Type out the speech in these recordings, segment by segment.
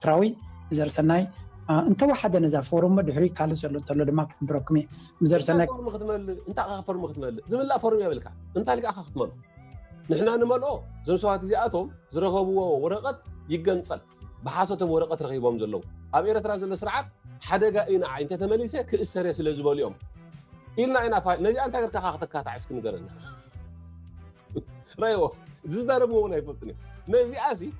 ኤርትራዊ ዘርሰናይ እንተወሓደ ነዛ ፎርም እሞ ድሕሪ ካልእ ዘሎ እንተሎ ድማ ክሕብረኩም እየ ዘርሰናይ ፎርም ክትመልእ እንታይ ካ ፎርም ክትመልእ ዝምላእ ፎርም የብልካ እንታይ ልካ ካ ክትመልኦ ንሕና ንመልኦ እዞም ሰባት እዚኣቶም ዝረኸብዎ ወረቐት ይገንፀል ብሓሶቶም ወረቐት ረኺቦም ዘለዉ ኣብ ኤርትራ ዘሎ ስርዓት ሓደጋ እዩ ንዓይ እንተተመሊሰ ክእሰር እየ ስለ ዝበሉ እዮም ኢልና ኢና ፋይል ነዚኣ እንታይ ገርካ ካ ክተካታዕ እስኪ ንገረና ረዎ ዝዛረብዎ እውን ኣይፈልጡን እዮም ነዚኣ ሲ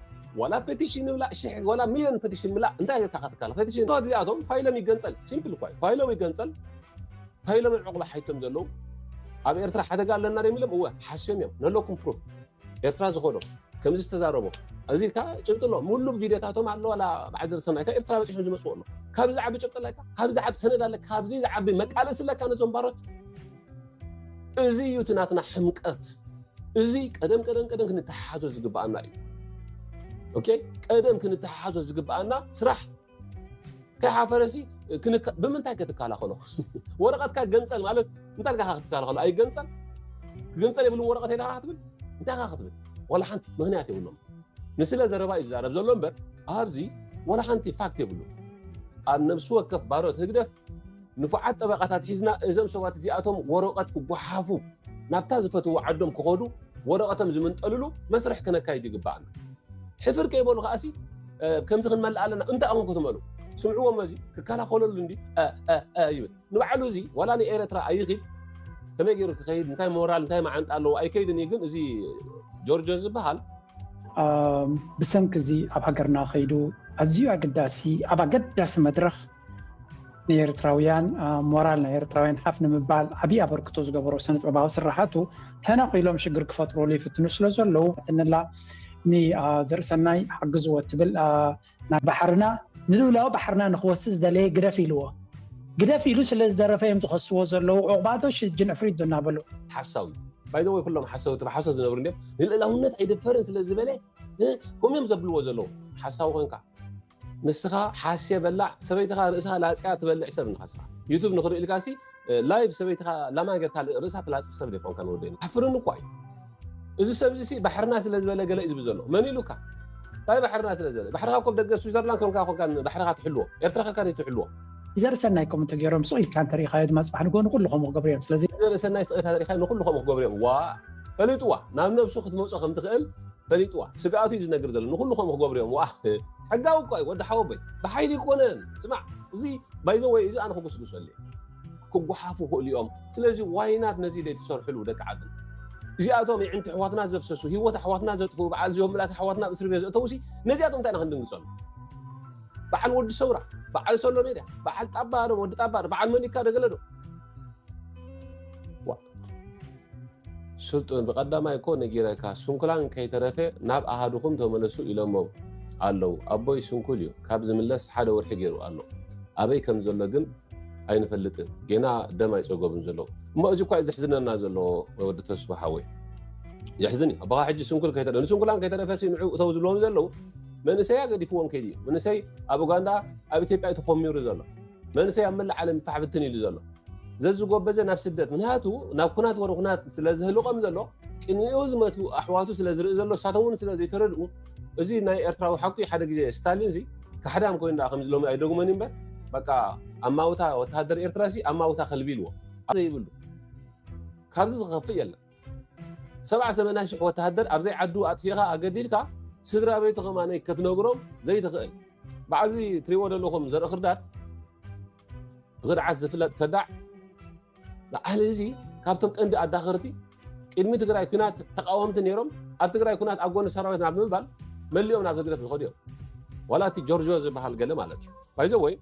ዋላ ፔቲሽን ብላ ሽሕ ዋላ ሚሊዮን ፔቲሽን ብላ እንታይ እየካ ክትካል ፔቲሽን ባት እዚኣቶም ፋይሎም ይገንፀል ሲምፕል እኳ እዩ ፋይሎም ይገንፀል ፋይሎም ዕቑባ ሓይቶም ዘለዉ ኣብ ኤርትራ ሓደጋ ኣለና ዶ ኢሎም እወ ሓስዮም እዮም ነለኩም ፕሩፍ ኤርትራ ዝኾኖ ከምዚ ዝተዛረቦ እዚ ከዓ ጭብጢ ኣሎ ሙሉ ቪድዮታቶም ኣሎ ዋላ በዓል ዝርሰናይካ ኤርትራ በፂሖም ዝመፅኡ ኣሎ ካብዚ ዝዓቢ ጭብጢ ኣለካ ካብዚ ዝዓቢ ሰነድ ኣለካ ካብዚ ዝዓቢ መቃለሲ ኣለካ ነዞም ባሮት እዚ እዩ እቲ ናትና ሕምቀት። እዚ ቀደም ቀደም ቀደም ክንተሓሓዞ ዝግብኣና እዩ። ኦኬ ቀደም ክንተሓሓዞ ዝግብኣና ስራሕ ከይሓፈረሲ ብምንታይ ከትከላኸሎ ወረቐትካ ገንፀል ማለት እንታይ ልካ ክትከላኸሎ ኣይገንፀል ክገንፀል የብሉም ወረቐት የለካ ክትብል እንታይ ካ ክትብል ዋላ ሓንቲ ምክንያት የብሎም ንስለ ዘረባ እዩ ዝዛረብ ዘሎ እምበር ኣብዚ ዋላ ሓንቲ ፋክት የብሉ ኣብ ነብሲ ወከፍ ባሮት ህግደፍ ንፉዓት ጠበቓታት ሒዝና እዞም ሰባት እዚኣቶም ወረቐት ክጓሓፉ ናብታ ዝፈትዎ ዓዶም ክኸዱ ወረቐቶም ዝምንጠልሉ መስርሕ ክነካይድ ይግባኣና ሕፍር ከይበሉ ከዓሲ ከምዚ ክንመልእ ኣለና እንታይ ኣኹም ክትመሉ ስምዕዎም እዚ ክከላኸለሉ እንዲ ይብል ንባዕሉ እዚ ዋላ ንኤረትራ ኣይኺድ ከመይ ገይሩ ክኸይድ እንታይ ሞራል እንታይ መዓንጣ ኣለዎ ኣይከይድን እዩ ግን እዚ ጆርጆ ዝበሃል ብሰንኪ እዚ ኣብ ሃገርና ከይዱ ኣዝዩ ኣገዳሲ ኣብ ኣገዳሲ መድረኽ ንኤርትራውያን ሞራል ናይ ኤርትራውያን ሓፍ ንምባል ዓብዪ ኣበርክቶ ዝገበሮ ስነጥበባዊ ስራሓቱ ተነኺሎም ሽግር ክፈጥሩሉ ይፍትኑ ስለ ዘለዉ ትንላ ንዘርእሰናይ ሓግዝዎ ትብል ናይ ባሕርና ንልውላዊ ባሕርና ንክወሲ ዝደለየ ግደፍ ኢልዎ ግደፍ ኢሉ ስለ ዝደረፈ እዮም ዝኸስዎ ዘለዉ ዕቑባዶ ሽጅን ዕፍሪት ዶ እናበሉ ሓሳዊ ባይዘወይ ኩሎም ሓሰውቲ ብሓሶት ዝነብሩ እንዲም ንልእላውነት ኣይደፈርን ስለ ዝበለ ከምኡዮም ዘብልዎ ዘለዉ ሓሳዊ ኮንካ ንስኻ ሓስየ በላዕ ሰበይትኻ ርእሳ ላጽያ ትበልዕ ሰብ ንኻ ስኻ ዩቱብ ንኽርእልካ ሲ ላይቭ ሰበይትኻ ላማ ጌርካ ርእሳ ትላጽ ሰብ ዘይኮንካ ንወደ ሓፍርን እኳ እዩ እዚ ሰብ እዚ ባሕርና ስለ ዝበለ ገለ እዩ ዝብ ዘሎ መን ኢሉካ እንታይ ባሕርና ስለ ዝበለ ባሕርኻ ኮብ ደገ ስዊዘርላንድ ኮንካ ኮንካ ባሕርኻ ትሕልዎ ኤርትራ ከካ ዘይትሕልዎ ዘርእሰናይ ከም እንተገይሮም ስቕ ኢልካ እንተሪኢኻዮ ድማ ፅባሕ ንጎ ንኩሉ ከምኡ ክገብሩ እዮም ስለዚ ዘርእሰናይ ስቕ ኢልካ ተሪኢኻዮ ንኩሉ ከምኡ ክገብሩ እዮም ዋ ፈሊጥዋ ናብ ነብሱ ክትመፆ ከም ትኽእል ፈሊጥዋ ስግኣቱ እዩ ዝነግር ዘሎ ንኩሉ ከምኡ ክገብሩ እዮም ዋእ ሕጋዊ እኳ እዩ ወዲ ሓወቦይ ብሓይሊ ይኮነን ስማዕ እዚ ባይዘ ወይ እዚ ኣነ ክጉስጉሰሉ እየ ክጓሓፉ ክእሉ እዮም ስለዚ ዋይናት ነዚ ዘይትሰርሕሉ ደቂ ዓድና እዚኣቶም ይዕንቲ ኣሕዋትና ዘፍሰሱ ሂወት ኣሕዋትና ዘጥፍኡ በዓል እዚኦም ምላት ኣሕዋትና ኣብ እስሪ ቤት ዘእተውሲ ነዚኣቶም እንታይ ኢና ክንድንግፀሉ በዓል ወዲ ሰውራ በዓል ሶሎ ሜድያ በዓል ጣባ ዶ ወዲ ጣባ ዶ በዓል መኒካ ደገለ ዶ ስልጡን ብቀዳማይ እኮ ነጊረካ ስንኩላን ከይተረፈ ናብ ኣሃዱኹም ተመለሱ ኢሎሞም ኣለው ኣቦይ ስንኩል እዩ ካብ ዝምለስ ሓደ ወርሒ ገይሩ ኣሎ ኣበይ ከም ዘሎ ግን ኣይንፈልጥን ጌና ደም ኣይፀገቡን ዘለዉ እሞ እዚ እኳ ዘሕዝነና ዘሎ ወዲ ተስፋ ሓወይ የሕዝን እዩ ኣባኻ ሕጂ ስንኩል ከይተረ ንስንኩላን ከይተረፈ ንዑ እተው ዝብልዎም ዘለዉ መንእሰይ ኣገዲፍዎም ከይዲ እዩ መንእሰይ ኣብ ኡጋንዳ ኣብ ኢትዮጵያ እዩ ተኾሚሩ ዘሎ መንእሰይ ኣብ መላእ ዓለም ፍታሕ ብትን ኢሉ ዘሎ ዘዝጎበዘ ናብ ስደት ምክንያቱ ናብ ኩናት ወረ ኩናት ስለዝህልቆም ዘሎ ቅንኡ ዝመት ኣሕዋቱ ስለዝርኢ ዘሎ እሳቶም እውን ስለዘይተረድኡ እዚ ናይ ኤርትራዊ ሓቂ ሓደ ግዜ ስታሊን ዚ ካሕዳም ኮይኑ ዳ ከምዚ ሎሚ ኣይደግመን እምበር በቃ ኣማውታ ወተሃደር ኤርትራ ሲ ኣማውታ ከልቢ ኢልዎ ዘይብሉ ካብዚ ዝኸፍእ የለን ሰብዓ ሰመንያ ሽሕ ወተሃደር ኣብ ዘይዓዱ ኣጥፊእኻ ኣገዲድካ ስድራቤቱ ከማን ከትነግሮም ዘይትኽእል በዓዚ ትሪእዎ ዘለኹም ዘርኢ ክርዳድ ብክድዓት ዝፍለጥ ከዳዕ በዓል እዚ ካብቶም ቀንዲ ኣዳኸርቲ ቅድሚ ትግራይ ኩናት ተቃወምቲ ነይሮም ኣብ ትግራይ ኩናት ኣብ ጎኒ ሰራዊት ናብ ምባል መሊኦም ናብ ህግደፍ ዝኸዱ እዮም ዋላ እቲ ጆርጆ ዝበሃል ገለ ማለት እዩ ባይዘ ወይ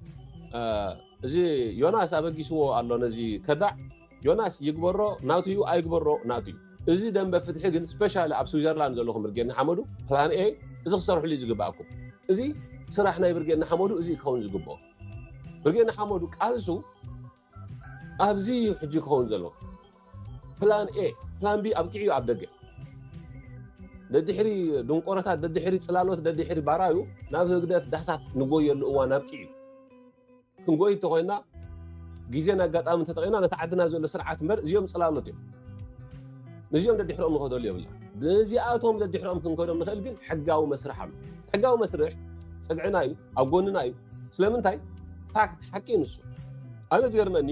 እዚ ዮናስ ኣበጊስዎ ኣሎ ነዚ ከዳዕ ዮናስ ይግበሮ ናቱ እዩ ኣይግበሮ ናቱ እዩ እዚ ደንበ ፍትሒ ግን ስፔሻሊ ኣብ ስዊዘርላንድ ዘለኹም ብርጌድ ንሓመዱ ፕላን ኤ እዚ ክሰርሕሉ እዩ ዝግባኣኩም እዚ ስራሕ ናይ ብርጌድ ንሓመዱ እዚ ክኸውን ዝግብኦ ብርጌድ ንሓመዱ ቃልሱ ኣብዚ እዩ ሕጂ ክኸውን ዘሎ ፕላን ኤ ፕላን ቢ ኣብቂዑ እዩ ኣብ ደገ ደድሕሪ ድንቆረታት ደድሕሪ ፅላሎት ደድሕሪ ባራዩ ናብ ህግደፍ ዳሕሳት ንጎየሉ እዋን ኣብቂዑ እዩ ክንጎይ እንተኾይና ግዜን ኣጋጣሚ ተጠቂምና ነቲ ዓድና ዘሎ ስርዓት እምበር እዚኦም ፅላሎት እዮም ነዚኦም ደድሕሮኦም ንኸደሉ የብልና ነዚኣቶም ደድሕሮኦም ክንከዶም ንኽእል ግን ሕጋዊ መስርሕ ኣሎ ሕጋዊ መስርሕ ፅግዕና እዩ ኣብ ጎንና እዩ ስለምንታይ ፋክት ሓቂ ንሱ ኣነ ዝገርመኒ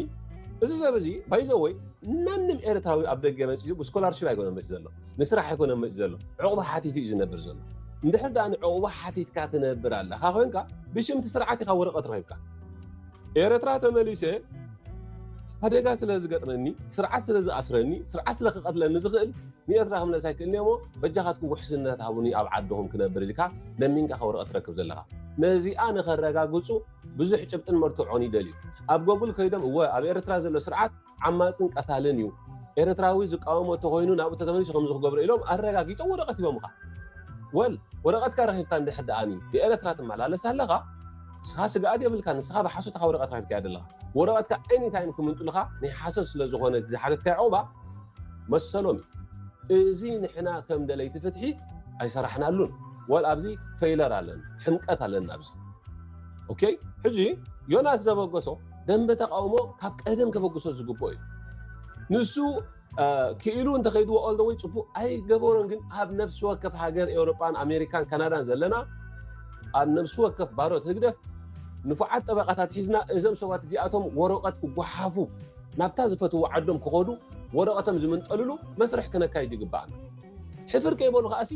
እዚ ሰብ እዚ ባይዘወይ ማንም ኤርትራዊ ኣብ ደገ መፂኡ ብስኮላርሽፕ ኣይኮነ መፂ ዘሎ ንስራሕ ኣይኮነን መፂኡ ዘሎ ዕቑባ ሓቲቱ እዩ ዝነብር ዘሎ እንድሕር ደኣ ንዕቑባ ሓቲትካ ትነብር ኣለካ ኮንካ ብሽምቲ ስርዓት ኢካ ወረቐት ረኺብካ ኤረትራ ተመሊሰ ሓደጋ ስለ ዝገጥመኒ ስርዓት ስለ ዝኣስረኒ ስርዓት ስለ ክቐትለኒ ዝኽእል ንኤርትራ ክምለስ ኣይክእልኒ እሞ በጃኻትኩም ውሕስነት ሃቡኒ ኣብ ዓድኹም ክነብር ኢልካ ለሚንካ ከወረቐት ትረክብ ዘለካ ነዚኣ ንኸረጋግፁ ብዙሕ ጭብጥን መርትዖን ይደልዩ ኣብ ጎግል ከይዶም እወ ኣብ ኤርትራ ዘሎ ስርዓት ዓማጽን ቀታልን እዩ ኤርትራዊ ዝቃወሞ እንተኮይኑ ናብኡ ተተመሊሱ ከምዚ ክገብሮ ኢሎም ኣረጋጊፆም ወረቐት ሂቦምኻ ወል ወረቐትካ ረኪብካ እንድሕር ደኣኒ ብኤርትራ ትመላለስ ኣለኻ ንስኻ ስግኣት የብልካ ንስኻ ብሓሶትካ ወረቐት ረኪብካ ኣለኻ ወረቐትካ ዓይኒ ታይም ክምንጥልኻ ናይ ሓሶት ስለ ዝኾነ ዝሓተትካ ዕቑባ መሰሎም እዩ እዚ ንሕና ከም ደለይቲ ፍትሒ ኣይሰራሕናሉን ወል ኣብዚ ፈይለር ኣለና ሕምቀት ኣለና ኣብዚ ኦኬ ሕጂ ዮናስ ዘበገሶ ደንበ ተቃውሞ ካብ ቀደም ከበግሶ ዝግብኦ እዩ ንሱ ክኢሉ እንተኸይድዎ ኦል ወይ ፅቡቅ ኣይገበሮን ግን ኣብ ነብሲ ወከፍ ሃገር ኤውሮጳን ኣሜሪካን ካናዳን ዘለና ኣብ ነብሲ ወከፍ ባሮት ህግደፍ ንፉዓት ጠበቃታት ሒዝና እዞም ሰባት እዚኣቶም ወረቀት ክጓሓፉ ናብታ ዝፈትዎ ዓዶም ክኸዱ ወረቀቶም ዝምንጠልሉ መስርሕ ክነካይድ ይግባኣና ሕፍር ከይበሉ ከዓሲ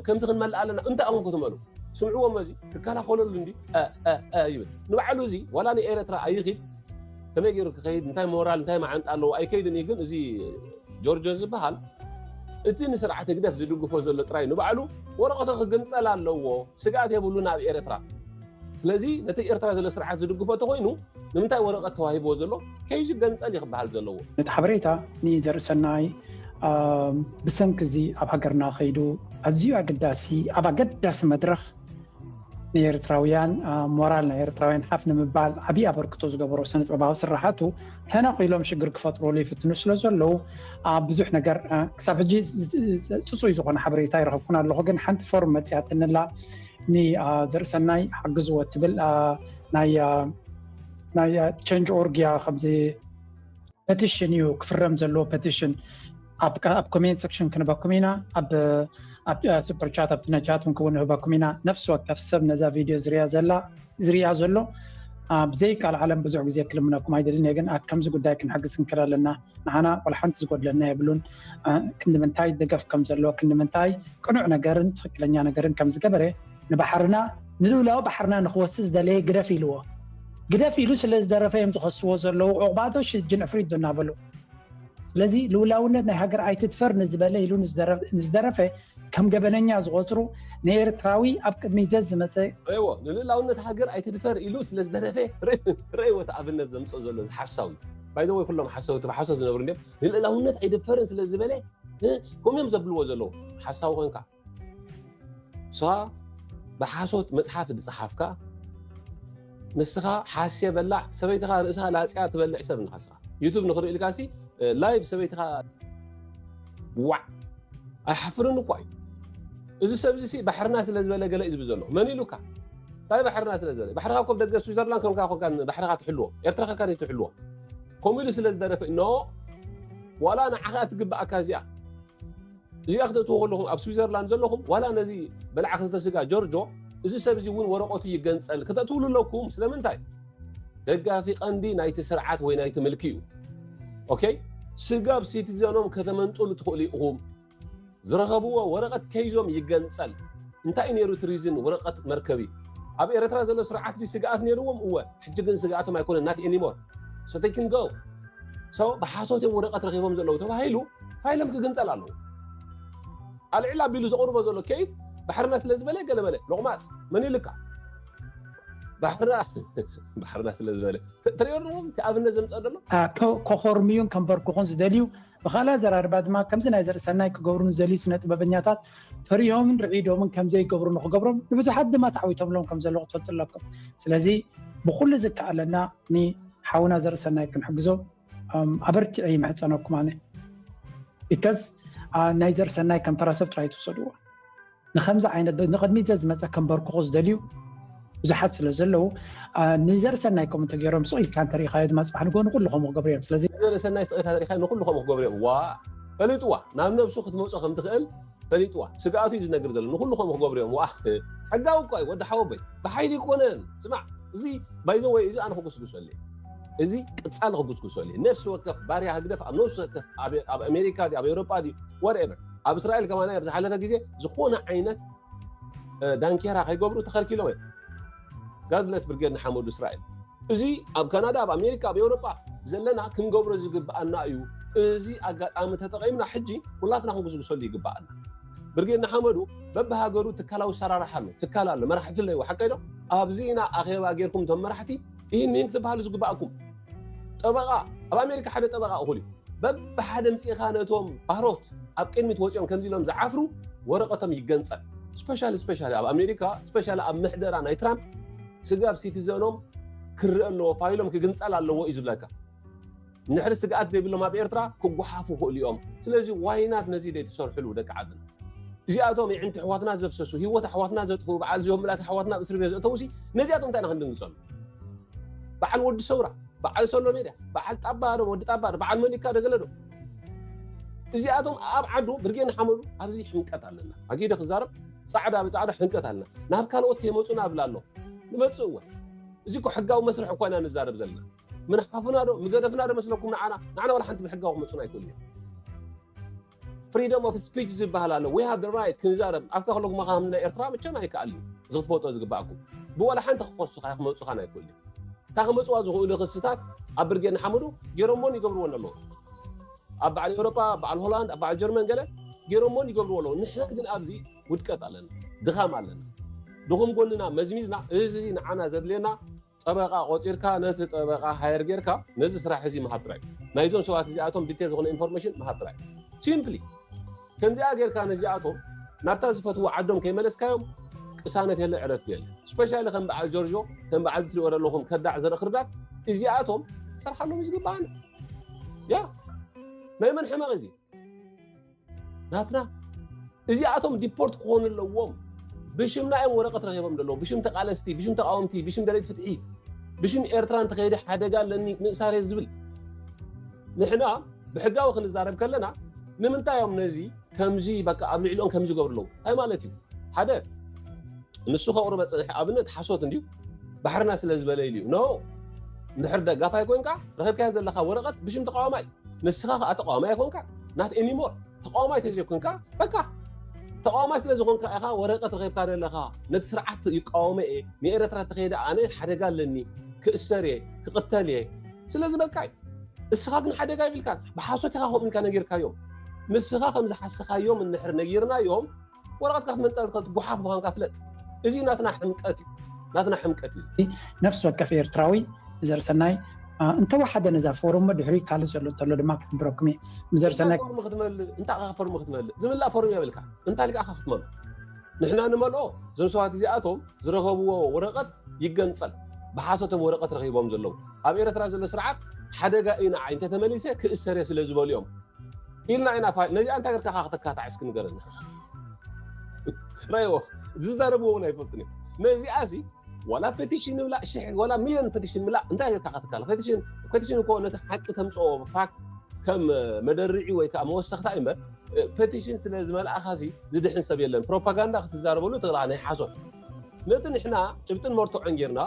ከምዚ ክንመልእ ኣለና እንታይ ኣኹም ክትመሉ ስምዕዎ መዚ ክከላኸለሉ እንዲ ይብል ንባዕሉ እዚ ዋላ ንኤረትራ ኣይኽድ ከመይ ገይሩ ክኸይድ እንታይ ሞራል እንታይ መዓንጣ ኣለዎ ኣይከይድን እዩ ግን እዚ ጆርጆ ዝበሃል እቲ ንስርዓት ህግደፍ ዝድግፎ ዘሎ ጥራይ ንባዕሉ ወረቐቶ ክግንፀል ኣለዎ ስግኣት የብሉን ኣብ ኤረትራ ስለዚ ነቲ ኤርትራ ዘሎ ስርዓት ዝድግፎ ተኮይኑ ንምንታይ ወረቀት ተዋሂብዎ ዘሎ ከይዝገንፀል ይክበሃል ዘለዎ። ነቲ ሓበሬታ ንዘርእሰናይ ብሰንኪ እዚ ኣብ ሃገርና ከይዱ ኣዝዩ ኣገዳሲ ኣብ ኣገዳሲ መድረኽ ንኤርትራውያን ሞራል ናይ ኤርትራውያን ሓፍ ንምባል ዓብዪ ኣበርክቶ ዝገበሮ ስነጥበባዊ ስራሓቱ ተነቂሎም ሽግር ክፈጥሩሉ ይፍትኑ ስለ ዘለዉ ብዙሕ ነገር ክሳብ ሕጂ ፅፁይ ዝኾነ ሓበሬታ ይረኸብኩን ኣለኹ ግን ሓንቲ ፎርም መፅያትንላ ንዘርእሰናይ ሓግዝዎ እትብል ናይ ቸንጅ ኦርግ እያ ከምዚ ፐቲሽን እዩ ክፍረም ዘለዎ ፐቲሽን ኣብ ኮሜንት ሰክሽን ክንህበኩም ኢና ኣብ ሱፐርቻት ኣብ ነጃት ውን ክውን ንህበኩም ኢና ነፍሲ ወከፍ ሰብ ነዛ ቪድዮ ዝርያ ዘላ ዝርያ ዘሎ ብዘይካል ዓለም ብዙሕ ግዜ ክልምነኩም ኣይደልን እየ ግን ኣብ ከምዚ ጉዳይ ክንሕግዝ ክንክእል ኣለና ንሓና ቆልሓንቲ ዝጎድለና የብሉን ክንዲ ምንታይ ደገፍ ከም ዘለዎ ክንዲ ምንታይ ቅኑዕ ነገርን ትኽክለኛ ነገርን ከም ዝገበረ ንባሕርና ንልውላዊ ባሕርና ንክወሲ ዝደለየ ግደፍ ኢልዎ ግደፍ ኢሉ ስለ ዝደረፈ እዮም ዝኸስዎ ዘለዉ ዕቑባዶ ሽጅን ዕፍሪት ዶ እናበሉ ስለዚ ልውላውነት ናይ ሃገር ኣይትድፈር ንዝበለ ኢሉ ንዝደረፈ ከም ገበነኛ ዝቆፅሩ ንኤርትራዊ ኣብ ቅድሚት ዘዝመፀ ረይዎ ንልእላውነት ሃገር ኣይትድፈር ኢሉ ስለ ዝደረፈ ረይዎ እቲ ኣብነት ዘምፅኦ ዘሎ እዚ ሓሳዊ ባይዘወይ ኩሎም ሓሰውቲ ብሓሶት ዝነብሩ እንዲም ንልእላውነት ኣይደፈርን ስለ ዝበለ ከምኡዮም ዘብልዎ ዘለዉ ሓሳዊ ኮንካ ሳ ብሓሶት መፅሓፍ ዝፀሓፍካ ንስኻ ሓስየ በላዕ ሰበይትኻ ርእሳ ላጽያ ትበልዕ ሰብ ንኻ ስኻ ዩቱብ ንኽርእልካ ሲ ላይቭ ሰበይትኻ ዋዕ ኣይሓፍርን እኳ እዩ እዚ ሰብዚ ሲ ባሕርና ስለ ዝበለ ገለ እዩ ዝብል ዘሎ መን ኢሉካ እንታይ ባሕርና ስለ ዝበለ ባሕርኻ ኮብ ደገ ስዊዘርላንድ ከምካ ኮንካ ባሕርኻ ትሕልዎ ኤርትራ ከካ ትሕልዎ ከምኡ ኢሉ ስለ ዝደረፈ ኖ ዋላ ንዓኻ ትግብኣካ እዚኣ እዚኣ ክተእትዎ ከለኹም ኣብ ስዊዘርላንድ ዘለኹም ዋላ ነዚ በላዕ ክልተ ስጋ ጆርጆ እዚ ሰብ እዚ እውን ወረቀቱ ይገንፀል ክተእትውሉ ኣለኩም ስለምንታይ ደጋፊ ቀንዲ ናይቲ ስርዓት ወይ ናይቲ ምልኪ እዩ ኦኬ ስጋብ ሲቲዘኖም ከተመንጥሉ ትኽእሉ ኢኹም ዝረኸብዎ ወረቐት ከይዞም ይገንፀል እንታይ ነይሩ እቲ ሪዝን ወረቐት መርከቢ ኣብ ኤርትራ ዘሎ ስርዓት ስግኣት ነይርዎም እወ ሕጂ ግን ስግኣቶም ኣይኮነን ናት ኤኒሞር ብሓሶት እዮም ወረቀት ረኪቦም ዘለዉ ተባሂሉ ፋይሎም ክግንፀል ኣለዎ ኣልዕል ኣቢሉ ዘቅርቦ ዘሎ ኬዝ ባሕርና ስለዝበለ ገለመለ ሎቅማፅ መን ይልካ ባሕርና ስለዝበለ ትሪኦ ኣለዎም እቲ ኣብነት ዘምፀእ ዘሎ ከኮርምዩን ከንበርክኹን ዝደልዩ ብካልእ ኣዘራርባ ድማ ከምዚ ናይ ዘርእሰናይ ክገብሩ ንዘልዩ ስነ ጥበበኛታት ፈሪሆምን ርዒዶምን ከም ዘይገብሩ ንክገብሮም ንብዙሓት ድማ ተዓዊቶምሎም ከም ዘለዉ ክትፈልጡ ኣለኩም ስለዚ ብኩሉ ዝከኣለና ንሓውና ዘርእሰናይ ክንሕግዞ ኣበርቲዐ ይምሕፀነኩም ኣነ ቢከዝ ናይ ዘርሰናይ ከም ተራሰብ ጥራይ ትውሰድዎ ንከምዚ ዓይነት ንቅድሚት ዘዝመፀ ከምበርክኮ ዝደልዩ ብዙሓት ስለ ዘለዉ ንዘርእሰናይ ከምኡ ተገይሮም ስቕ ኢልካ እንተሪኢኻዮ ድማ ፅባሕ ንጎ ንኩሉ ከምኡ ክገብሩ እዮም ስለዚ ንዘርእሰናይ ስቕ ኢልካ ተሪኢኻዮ ንኩሉ ከምኡ ክገብሩ እዮም ዋ ፈሊጥዋ ናብ ነብሱ ክትመፆ ከም ትኽእል ፈሊጥዋ ስግኣቱ እዩ ዝነግር ዘሎ ንኩሉ ከምኡ ክገብሩ እዮም ዋ ሕጋዊ እኳ እዩ ወዲ ሓወቦይ ብሓይሊ ይኮነን ስማዕ እዚ ባይዘ ወይ እዚ ኣነ ክጉስጉሰሉ እዚ ቅፃሊ ክጉስጉሰሉ ነፍሲ ወከፍ ባርያ ህግደፍ ኣብ ነፍሲ ወከፍ ኣብ ኣሜሪካ ኣብ ኤውሮጳ ወርኤቨር ኣብ እስራኤል ከማና ኣብ ዝሓለፈ ግዜ ዝኾነ ዓይነት ዳንኬራ ከይገብሩ ተኸልኪሎም እዮም ጋድለስ ብርጌድ ንሓመዱ እስራኤል እዚ ኣብ ካናዳ ኣብ ኣሜሪካ ኣብ ኤውሮጳ ዘለና ክንገብሮ ዝግብኣና እዩ እዚ ኣጋጣሚ ተጠቒምና ሕጂ ኩላትና ክንጉስጉሰሉ ይግብኣና ብርጌድ ንሓመዱ በብሃገሩ ትካላዊ ሰራርሓ ኣሎ ትካል ኣሎ መራሕቲ ኣለዎ ሓቀ ዶ ኣብዚ ኢና ኣኼባ ጌርኩም እቶም መራሕቲ ይህን ምሂን ክትብሃሉ ዝግብኣኩም ጠበቓ ኣብ ኣሜሪካ ሓደ ጠበቓ እኹል እዩ በብሓደ ምፅኢኻ ነቶም ባሮት ኣብ ቅድሚት ወፂኦም ከምዚ ኢሎም ዝዓፍሩ ወረቐቶም ይገንፀል ስፔሻሊ ስፔሻሊ ኣብ ኣሜሪካ ስፔሻሊ ኣብ ምሕደራ ናይ ትራምፕ ስጋብ ሲቲዘኖም ክረአ ኣለዎ ፋይሎም ክግንፀል ኣለዎ እዩ ዝብለካ ንድሕሪ ስግኣት ዘይብሎም ኣብ ኤርትራ ክጓሓፉ ይኽእሉ እዮም ስለዚ ዋይናት ነዚ ዘይትሰርሕሉ ደቂ ዓድና እዚኣቶም ይዕንቲ ኣሕዋትና ዘፍሰሱ ሂወት ኣሕዋትና ዘጥፍኡ በዓል ዚኦም ምልኣት ኣሕዋትና ኣብ እስሪ ቤት ዘእተውሲ ነዚኣቶም እንታይ ኢና ክንድንግጸሉ በዓል ወዲ ሰውራ በዓል ሰሎ ሜድያ በዓል ጣባ ዶ ወዲ ጣባ ዶ በዓል መሊካ ደገለ ዶ እዚኣቶም ኣብ ዓዱ ብርጌ ንሓመዱ ኣብዚ ሕንቀት ኣለና ኣጊደ ክዛረብ ፃዕዳ ብፃዕዳ ሕንቀት ኣለና ናብ ካልኦት ከይመፁና ኣብላ ኣሎ ንመፅእ እወ እዚ እኮ ሕጋዊ መስርሕ እኳ ኢና ንዛረብ ዘለና ምንሓፍና ዶ ምገደፍና ዶ መስለኩም ንዓና ንዓና ዋላ ሓንቲ ብሕጋዊ ክመፁና ኣይክእሉ እዮም ፍሪደም ኦፍ ስፒች ዝበሃል ኣሎ ዊ ሃቭ ራይት ክንዛረብ ኣብካ ከለኩም ካ ከምና ኤርትራ መቸም ኣይከኣል እዩ እዚ ክትፈልጦ ዝግባኣኩም ብዋላ ሓንቲ ክኸሱካ ክመፁኻን ኣይክእሉ እታ ክመፅዋ ዝኽእሉ ክስታት ኣብ ብርጌድ ንሓመዱ ገይሮሞን ይገብርዎን ኣለዉ ኣብ በዓል ኤውሮጳ በዓል ሆላንድ ኣብ በዓል ጀርመን ገለ ገይሮሞን ይገብርዎ ኣለዉ ንሕና ግን ኣብዚ ውድቀት ኣለና ድኻም ኣለና ድኹም ጎንና መዝሚዝና እዚ ንዓና ዘድልየና ጠበቃ ቆፂርካ ነቲ ጠበቃ ሃየር ጌርካ ነዚ ስራሕ እዚ ምሃብ ጥራይ ናይዞም ሰባት እዚኣቶም ዲቴል ዝኾነ ኢንፎርሜሽን ምሃብ ጥራይ ሲምፕሊ ከምዚኣ ጌርካ ነዚኣቶም ናብታ ዝፈትዎ ዓዶም ከይመለስካዮም ቅሳነት የለ ዕረፍቲ የለ ስፔሻሊ ከም በዓል ጆርጆ ከም በዓል ትሪኦ ዘለኹም ከዳዕ ዘርኢ ክርዳድ እዚኣቶም ሰርሓሎም እዩ ዝግባኣና ያ ናይ መን ሕመቕ እዚ ናትና እዚኣቶም ዲፖርት ክኾኑ ኣለዎም ብሽምና እዮም ወረቀት ረኪቦም ዘለዉ ብሽም ተቃለስቲ ብሽም ተቃወምቲ ብሽም ደለይቲ ፍትሒ ብሽም ኤርትራ እንተኸይደ ሓደጋ ኣለኒ ምእሳር ዝብል ንሕና ብሕጋዊ ክንዛረብ ከለና ንምንታይ እዮም ነዚ ከምዚ በቃ ኣብ ልዕሊኦም ከምዚ ገብሩ ኣለዉ እንታይ ማለት እዩ ሓደ ንሱ ከቕርበ ፅንሐ ኣብነት ሓሶት እንድዩ ባሕርና ስለ ዝበለ ኢሉ እዩ ኖ እንድሕር ደጋፋይ ኮንካ ረኺብካዮ ዘለካ ወረቐት ብሽም ተቃዋማይ ንስኻ ከዓ ተቃዋማይ ኣይኮንካ ናት ኤኒሞር ተቃዋማይ ተዘይኮንካ በቃ ተቃዋማይ ስለ ዝኾንካ ኢኻ ወረቀት ረኺብካ ዘለኻ ነቲ ስርዓት ይቃወመ እየ ንኤረትራ ተኸይደ ኣነ ሓደጋ ኣለኒ ክእሰር እየ ክቕተል እየ ስለዚ በቃ እስኻ ግን ሓደጋ ይብልካ ብሓሶት ኢኻ ከምኡ ኢልካ ነጊርካዮም ንስኻ ከም ዝሓሰኻዮም እንድሕር ነጊርናዮም ወረቐትካ ክትመንጠል ትኽእል ጉሓፍ ምዃንካ ፍለጥ እዚ ናትና ሕምቀት እዩ ናትና ሕምቀት እዩ ነፍሲ ወከፍ ኤርትራዊ ዘርሰናይ እንተወሓደ ነዛ ፎርም ድሕሪ ካልእ ዘሎ እንተሎ ድማ ክሕብረኩም እየ ዘርሰናይ ፎርም ክትመልእ እንታይ ካ ፎርም ክትመልእ ዝምላእ ፎርም የብልካ እንታይ ልካ ክትመልኦ ንሕና ንመልኦ እዞም ሰባት እዚኣቶም ዝረኸብዎ ወረቐት ይገንፀል ብሓሶቶም ወረቐት ረኺቦም ዘለዉ ኣብ ኤርትራ ዘሎ ስርዓት ሓደጋ ኢና ዓይ እንተተመሊሰ ክእሰር እየ ስለ ዝበሉ እዮም ኢልና ኢና ፋ ነዚኣ እንታይ ገርካ ከተካታዕ እስኪ ንገረኒ ራይዎ ዝዛረብዎ እውን ኣይፈልጥን እዮም ነዚኣ ሲ ዋላ ፔቲሽን ብላ ሽሕ ዋላ ሚሊዮን ፔቲሽን ብላ እንታይ ገርካ ከተካለ ፔቲሽን ፔቲሽን እኮ ነቲ ሓቂ ተምፅኦ ፋክት ከም መደርዒ ወይ ከዓ መወሰኽታ እዩ እምበር ፔቲሽን ስለ ዝመልእኻ ሲ ዝድሕን ሰብ የለን ፕሮፓጋንዳ ክትዛረበሉ ተላ ናይ ሓሶት ነቲ ንሕና ጭብጥን መርትዖን ጌርና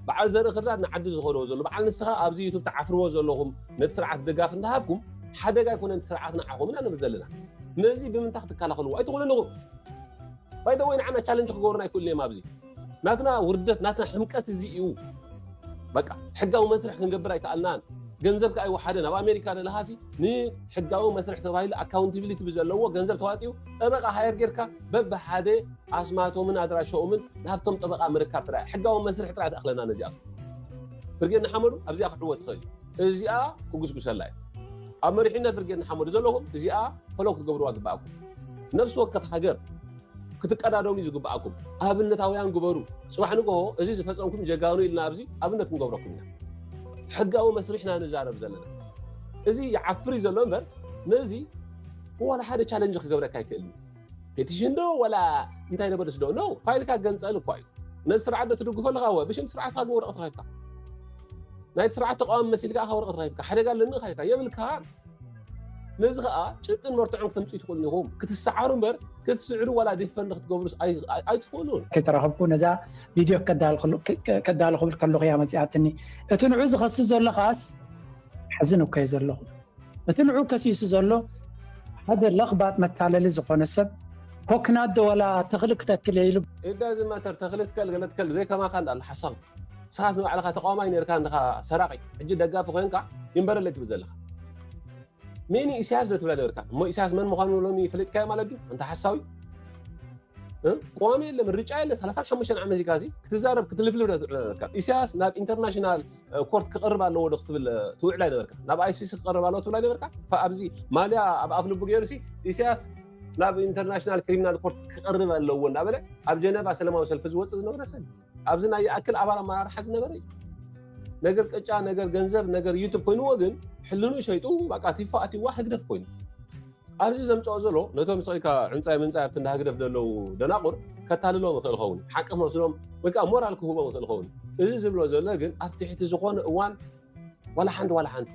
በዓል ዘርኢ ክርዳድ ንዓዲ ዝኸደዎ ዘሎ በዓል ንስኻ ኣብዚ ዩቱብ ትዓፍርዎ ዘለኹም ነቲ ስርዓት ደጋፍ እንዳሃብኩም ሓደጋ ኣይኮነን ስርዓት ንዓኹም ኢና ንብል ዘለና ነዚ ብምንታይ ክትከላኸልዎ ኣይትኽእሉ ኣለኹም ባይደወይ ንዓና ቻለንጅ ክገብሩና ኣይክእሉ እዮም ኣብዚ ናትና ውርደት ናትና ሕምቀት እዚ እዩ በቃ ሕጋዊ መስርሕ ክንገብር ኣይከኣልናን ገንዘብ ከዓ ይወሓደን ኣብ ኣሜሪካ ዘለሃሲ ንሕጋዊ መስርሕ ተባሂሉ ኣካውንቲቢሊቲ ብዘለዎ ገንዘብ ተዋፂኡ ጠበቃ ሃየር ጌርካ በብሓደ ኣስማቶምን ኣድራሻኦምን ናብቶም ጠበቓ ምርካብ ጥራይ ሕጋዊ መስርሕ ጥራይ ተኣኽለና ነዚኣቶም ብርጌድ ንሓመዱ ኣብዚኣ ክዕወት ይኽእል እዩ እዚኣ ክጉስጉሰላ እዩ ኣብ መሪሕነት ብርጌድ ንሓመዱ ዘለኹም እዚኣ ፈለው ክትገብርዋ ግበኣኩም ነፍሲ ወከፍ ሃገር ክትቀዳደሙ እዩ ዝግበኣኩም ኣብነታውያን ግበሩ ፅባሕ ንግሆ እዚ ዝፈፀምኩም ጀጋኑ ኢልና ኣብዚ ኣብነት ክንገብረኩም ኢና ሕጋዊ መስርሕና ንዛረብ ዘለና እዚ ይዓፍር እዩ ዘሎ እምበር ነዚ ዋላ ሓደ ቻለንጅ ክገብረካ ኣይክእል እዩ ፔቲሽን ዶ ወላ እንታይ ነበለስ ዶ ኖ ፋይልካ ገንፀል እኳ እዩ ነዚ ስርዓት ዶ ትድግፎ ኣለካ ወ ብሽም ስርዓትካ ግን ወረቐት ረኪብካ ናይቲ ስርዓት ተቃዋሚ መሲልካ ካ ወረቐት ረኪብካ ሓደጋ ኣለኒ ካ ኢልካ የብልካ ነዚ ከዓ ጭብጥን መርትዖን ክተምፅኡ ትኽእሉ ኢኹም ክትሰዓሩ እምበር ክትስዕሩ ዋላ ዲፈንድ ክትገብሩ ኣይትኽእሉን ከይተረኸብኩ ነዛ ቪድዮ ከዳሉ ክብል ከለኹ እያ መፅኣትኒ እቲ ንዑ ዝኸስስ ዘሎ ከዓስ ሐዚ ኑከ ዘለኹ እቲ ንዑ ከሲሱ ዘሎ ሓደ ለኽባጥ መታለሊ ዝኾነ ሰብ ኮክናት ዶ ወላ ተኽሊ ክተክል እየ ኢሉ It doesn't matter ተኽሊ ትከል ገለ ትከል ዘይከማካ እንዳ ኣሎ ሓሳዊ ንስኻስ ንባዕልኻ ተቃዋማይ ነርካ እንድኻ ሰራቂ ሕጂ ደጋፊ ኮይንካ ይንበረለይ ትብል ዘለኻ ሜኒ ኢሳያስ ዶ ትብላ ነርካ እሞ ኢሳያስ መን ምዃኑ ሎሚ ፈሊጥካዮ ማለት ድዩ እንተ ሓሳዊ ቀዋሚ የለ ምርጫ የለ 35 ዓመት ኢልካ ክትዛረብ ክትልፍልፍ ዶ ትውዕል ነርካ ኢሳያስ ናብ ኢንተርናሽናል ኮርት ክቐርብ ኣለዎ ዶ ክትብል ትውዕል ኣይነበርካ ናብ ኣይሲሲ ክቐርብ ኣለዎ ትብል ኣይነበርካ ኣብዚ ማልያ ኣብ ኣፍ ልቡ ገይሩ ሲ ኢሳያስ ናብ ኢንተርናሽናል ክሪሚናል ኮርት ክቐርብ ኣለዎ እናበለ ኣብ ጀነቫ ሰለማዊ ሰልፊ ዝወፅእ ዝነበረ ሰብ ኣብዚ ናይ ይኣክል ኣባል ኣመራርሓ ዝነበረ እዩ ነገር ቅጫ ነገር ገንዘብ ነገር ዩቱብ ኮይኑዎ ግን ሕልኑ ሸይጡ በቃ ቲፎ ኣትዋ ህግደፍ ኮይኑ ኣብዚ ዘምፀኦ ዘሎ ነቶም ስቂልካ ዕንፃይ ምንፃይ ኣብቲ እንዳ ህግደፍ ዘለዉ ደናቑር ከታልሎም ይኽእል ኸውን ሓቂ መስሎም ወይ ከዓ ሞራል ክህቦም ይኽእል ኸውን እዚ ዝብሎ ዘሎ ግን ኣብ ትሕቲ ዝኾነ እዋን ዋላ ሓንቲ ዋላ ሓንቲ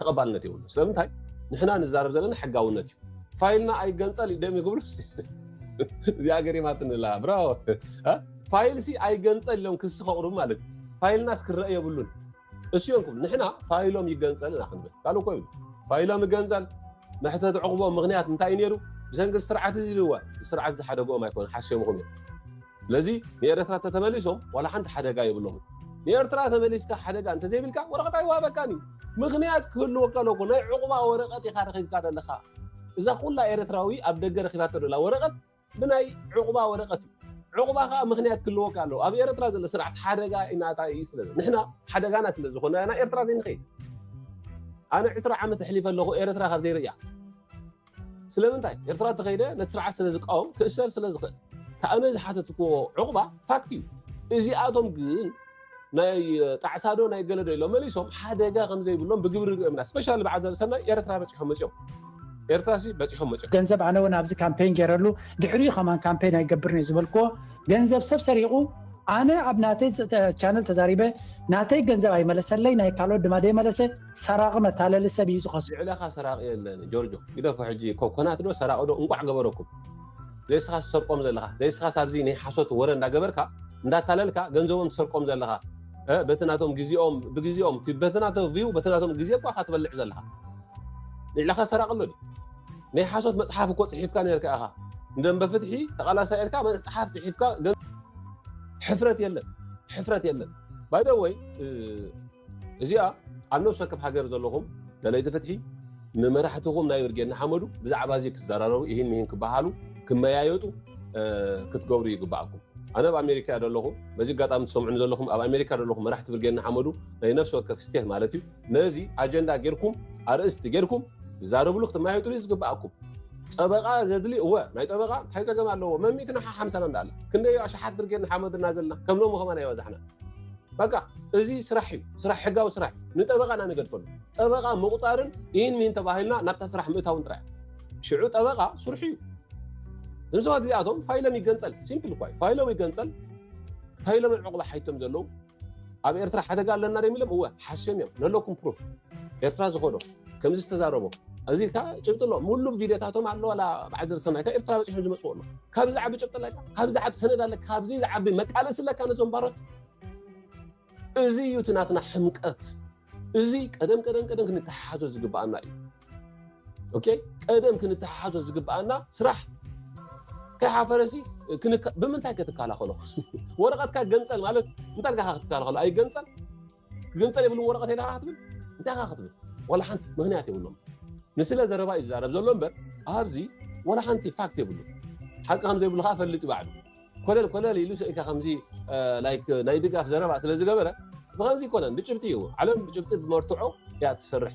ተቐባልነት የብሉ ስለምንታይ ንሕና ንዛረብ ዘለና ሕጋውነት እዩ ፋይልና ኣይገንፀል ደም ይግብሉ እዚኣ ገሪማትንላ ብራዎ ፋይል ሲ ኣይገንፀል ኢሎም ክሲ ከቕርቡ ማለት እዩ ፋይልናስ ክረአ የብሉን እስዮንኩም ንሕና ፋይሎም ይገንፀል ኢና ክንብል ካልእ እኮ ይብሉ ፋይሎም ይገንፀል መሕተት ዕቑቦ ምክንያት እንታይ እዩ ነይሩ ብሰንኪ ስርዓት እዚ ልዋ ስርዓት ዝሓደግኦም ኣይኮነ ሓሲምኹም እዮም ስለዚ ንኤርትራ ተተመሊሶም ዋላ ሓንቲ ሓደጋ የብሎም ንኤርትራ ተመሊስካ ሓደጋ እንተዘይብልካ ወረቐት ኣይዋሃበካን እዩ ምክንያት ክህልወካ ኣለኩ ናይ ዕቑባ ወረቐት ኢኻ ረኺብካ ዘለካ እዛ ኩላ ኤርትራዊ ኣብ ደገ ረኺባቶ ዘላ ወረቐት ብናይ ዑቕባ ወረቐት እዩ። ዑቕባ ከኣ ምኽንያት ክህልወካ ኣለዎ። ኣብ ኤረትራ ዘሎ ስርዓት ሓደጋ ኢናታ ኢዩ ስለ ንሕና ሓደጋና ስለ ዝኾና ኢና ኤርትራ ዘይንኸይድ። ኣነ ዕስራ ዓመት ኣሕሊፈ ኣለኹ ኤረትራ ካብ ዘይርእያ። ስለምንታይ ኤርትራ ተኸይደ ነቲ ስርዓት ስለ ዝቃወም ክእሰር ስለ ዝኽእል። ተኣነ ዝሓተትክዎ ዑቕባ ፋክት እዩ። እዚኣቶም ግን ናይ ጣዕሳ ዶ ናይ ገለ ዶ ኢሎም መሊሶም ሓደጋ ከም ዘይብሎም ብግብሪ ርኦም ኢና ስፔሻሊ ብዓዛ ዝሰናይ ኤርትራ በጺሖም መጺኦም ኤርትራ ሲ በጺሖም መጺኦም ገንዘብ ኣነ እውን ኣብዚ ካምፔን ገይረሉ ድሕሪኡ ከማን ካምፔን ኣይገብርን እየ ዝበልክዎ ገንዘብ ሰብ ሰሪቑ ኣነ ኣብ ናተይ ቻነል ተዛሪበ ናተይ ገንዘብ ኣይመለሰለይ ናይ ካልኦት ድማ ደይመለሰ ሰራቒ መታለሊ ሰብ እዩ ዝኸስ ልዕለኻ ሰራቒ የለን ጆርጆ ግደፎ ሕጂ ኮኮናት ዶ ሰራቒ ዶ እንቋዕ ገበረኩም ዘይስኻ ዝሰርቆም ዘለኻ ዘይስኻስ ኣብዚ ናይ ሓሶት ወረ እንዳገበርካ እንዳታለልካ ገንዘቦም ትሰርቆም ዘለኻ በቲ ናቶም ግዜኦም ብግዜኦም በቲ ናቶ ቪው በቲ ናቶም ግዜ እኳ ካ ትበልዕ ዘለኻ ንዕላኻ ሰራቂ ኣሎ ናይ ሓሶት መፅሓፍ እኮ ፅሒፍካ ነርካ ኢኻ እንደንበ ፍትሒ ተቃላሳይ ኢልካ መፅሓፍ ፅሒፍካ ሕፍረት የለን ሕፍረት የለን ባይደወይ እዚኣ ኣብ ነብሲ ወከፍ ሃገር ዘለኹም ደለይቲ ፍትሒ ንመራሕትኹም ናይ ብርጌድ ንሓመዱ ብዛዕባ እዚ ክዘራረቡ ይህን ምሂን ክበሃሉ ክመያየጡ ክትገብሩ ይግባኣኩም ኣነ ኣብ ኣሜሪካ እያ ዘለኹ በዚ ኣጋጣሚ ትሰምዑኒ ዘለኹም ኣብ ኣሜሪካ ዘለኹም መራሕቲ ብርጌድ ንሓመዱ ናይ ነፍሲ ወከፍ ስቴት ማለት እዩ ነዚ ኣጀንዳ ጌርኩም ኣርእስቲ ጌርኩም ትዛረብሉ ክትመያየጡሉ እዩ ዝግባኣኩም ጠበቃ ዘድሊ እወ ናይ ጠበቃ እንታይ ፀገም ኣለዎ መሚትና ሓሓምሳና እንዳኣላ ክንደይ ኣሽሓት ብርጌድ ንሓመዱ እና ዘለና ከም ሎሚ ከማን ኣይበዛሕና በቃ እዚ ስራሕ እዩ ስራሕ ሕጋዊ ስራሕ እዩ ንጠበቃ ኢና ንገድፈሉ ጠበቃ ምቁፃርን ኢን ሚን ተባሂልና ናብታ ስራሕ ምእታውን ጥራይ ሽዑ ጠበቃ ስርሑ እዩ እዞም ሰባት እዚኣቶም ፋይሎም ይገንፀል ሲምፕል እኳ እዩ ፋይሎም ይገንፀል ፋይሎም ዕቁባ ሓይቶም ዘለዉ ኣብ ኤርትራ ሓደጋ ኣለና ዶ ኢሎም እወ ሓሽም እዮም ነለኩም ፕሩፍ ኤርትራ ዝኸዶ ከምዚ ዝተዛረቦ እዚ ከ ጭብጢ ኣሎ ሙሉም ቪድዮታቶም ኣሎ ዋላ በዓል ዘርሰናይ ካብ ኤርትራ በፂሑ ዝመፅዎ ኣሎ ካብዚ ዝዓቢ ጭብጢ ኣለካ ካብዚ ዝዓቢ ሰነድ ኣለካ ካብዚ ዝዓቢ መቃለሲ ኣለካ ነዞም ባሮት እዚ እዩ እቲ ናትና ሕምቀት እዚ ቀደም ቀደም ቀደም ክንተሓሓዞ ዝግባኣና እዩ ኦኬ ቀደም ክንተሓሓዞ ዝግባኣና ስራሕ ከይሓፈረሲ ብምንታይ ከትከላኸሎ ወረቐትካ ገንፀል ማለት እንታይ ልካ ክትከላኸሎ ኣይገንፀል ክግንፀል የብሉን ወረቐት የዳ ክትብል እንታይ ካ ክትብል ዋላ ሓንቲ ምክንያት የብሎም ንስለ ዘረባ እዩ ዝዛረብ ዘሎ እምበር ኣብዚ ዋላ ሓንቲ ፋክት የብሉ ሓቂ ከም ዘይብሉ ከዓ ፈልጥ ባዕሉ ኮለል ኮለል ኢሉ ሰኢልካ ከምዚ ላይክ ናይ ድጋፍ ዘረባ ስለ ዝገበረ ብከምዚ ይኮነን ብጭብጢ እዩ ዓለም ብጭብጢ ብመርትዖ እያ ትሰርሕ